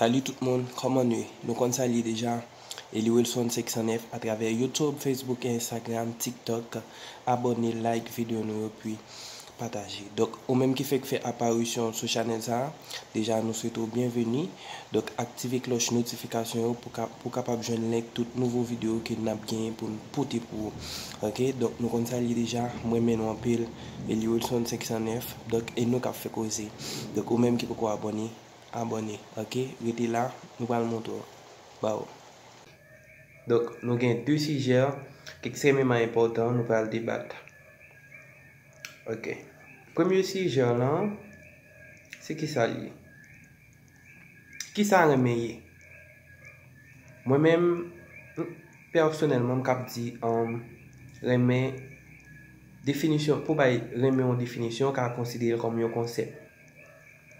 Salut tout moun, kòman nu ye? Nou konn sa li ye deja, Eliwilson 509 a travè youtube, facebook et instagram, tiktok, abòne, like video nou yo pi pataje. Donk ou menm ki fèk fè aparisyon sou chanèl sa a deja nou swete w byenveni. Donk aktive klòch notifikasyon yo pou ka pou kapab jwenn link tout nouvo videyo ke nap genyen pou n pote pou ou ok. Donk nou konn sa l ye deja m renmen nou anpil Eliwilson 509 donk e nou kap fè koze. Donk ou menm ki poko abòne abòne ok rete la nou pral montre w ba w. Donk nou gen 2 sijè ekstrèmeman enpòtan nou pral debat. Ok premye sijè lan se kisa li ye? Kisa renmen ye? Mwen menm pèsonèlman m k ap di renmen definisyon pou bay renmen yon definisyon ka konsidere l kòm yon konsèp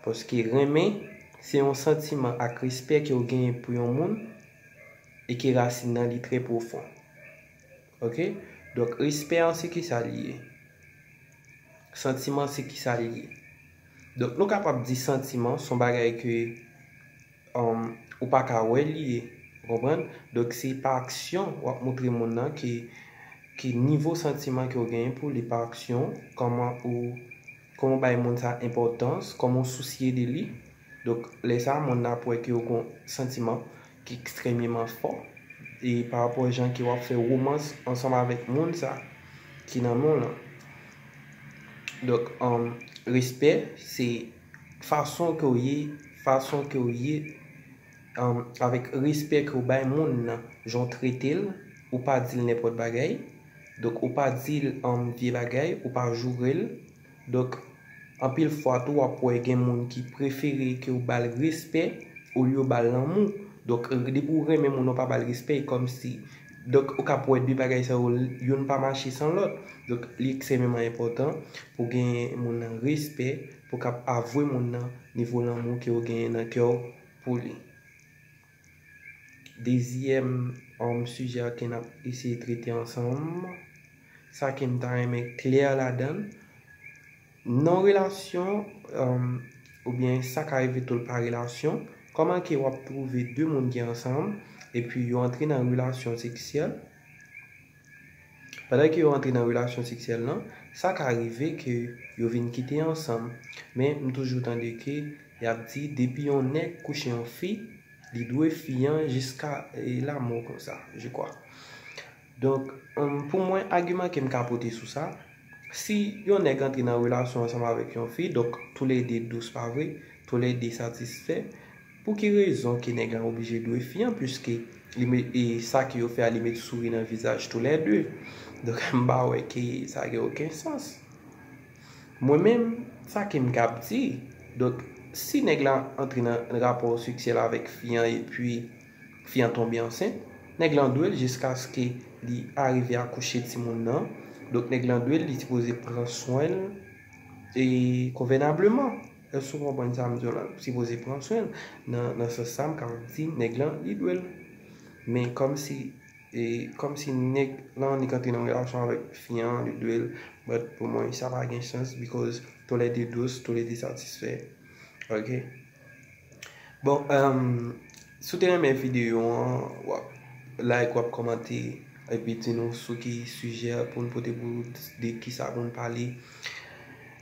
paske renmen se yon santiman ak respè ke w genyen pou yon moun e ke rasin nan li trè pwofon. Ok donk respè an se kisa li ye? Santiman se kisa li ye? Donk nou kapab di santiman son bagay ke ou pa ka wè li ye ou konprann? Donk se pa aksyon wap moutre moun nan ke ki nivo santiman ke ou genyen pou li pa aksyon ou kòman ou kòman ou bay moun sa enpòtans kòman ou sousye de li donk lè sa moun nan ap wè ke ou gon santiman ki ekstrememan fò e pa rapò jan ke wap fè romans ansanm avèk moun sa ki nan menw lan donk respè se fason kew ye fason kew ye avèk respè kew bay moun nan jan w tretel ou pa dil nenpòt bagay donk ou pa dil vye bagay ou pa jourel. Donk, anpil fwa tou w ap wè gen moun ki prefere ke w ba l respè olye w ba l lanmou. Donk, depi w renmen moun ou pa ba l respè, e kòmsi. Donk, ou ka ap wè 2 bagay sa yo, youn pa mache san lòt. Donk, li eksememan enpòtan pou w gen moun nan respè, pou w kab avwe moun nan nivo lanmou ke w genyen nan kè w pou li. Dezyèm um sijè a ke n ap eseye trete ansanm, sa ke m ta renmen klè ladan l, nan relasyon um oubyen sa ka rive tou l pa relasyon, kòman ke w ap twouve de moun ki ansanm epi yo antre nan relasyon seksyèl, Pandan ke yo antre nan relasyon seksyèl lan, sa ka rive ke yo vin kite ansanm. Men m toujou tande ke y ap di depi yon nèg kouche yon fi, li dwe fi an jiska lamò konsa, je kwa. Donk, pou mwen, agiman ke m ka pote sou sa, si yon nèg antre nan relasyon ansanm avèk yon fi, donk tou lè de dous, pa vre? Tou lè de satisfè. Pou ki rezon ke nèg lan oblije dwe fi an puiske li met e sa ke yo fè a li met souri nan vizaj tou lè 2 donk m pa wè ke sa gen oken sans mwen menm sa ke m kab di donk si nèg la antre nan rapò seksyèl avèk fi an epi fi an tonbe ansent nèg lan dwe l jiskaske li arive akouche timoun nan donk nèg lan dwe l li sipoze pran swen l e konvènableman. Èske ou konprann sa m di w la? M sipoze pran swen l nan sans sa m kapab di nèg lan li dwe l. Men kòmsi kòmsi nèg lan li kanpe nan relasyon avèk fi an li dwe l but pou mwen sa pa gen sans because tou lè 2 dous tou lè 2 satisfè ok. Bon emm si w te renmen videyo an w ap like w ap kòmante epi di nou sou ki sijè pou n pote pou ou di kisa pou n pale.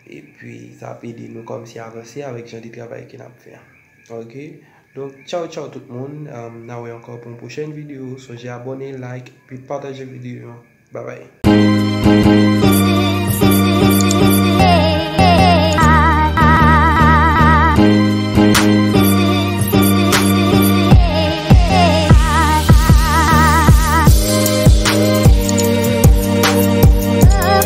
Epi sa ap ede nou kòmnse avanse avèk jan de travay ke nap fè a ok donk tchaw tchaw tout moun na wè ankò pou yon pwochèn video sonje abòne like epi pataje video an babay.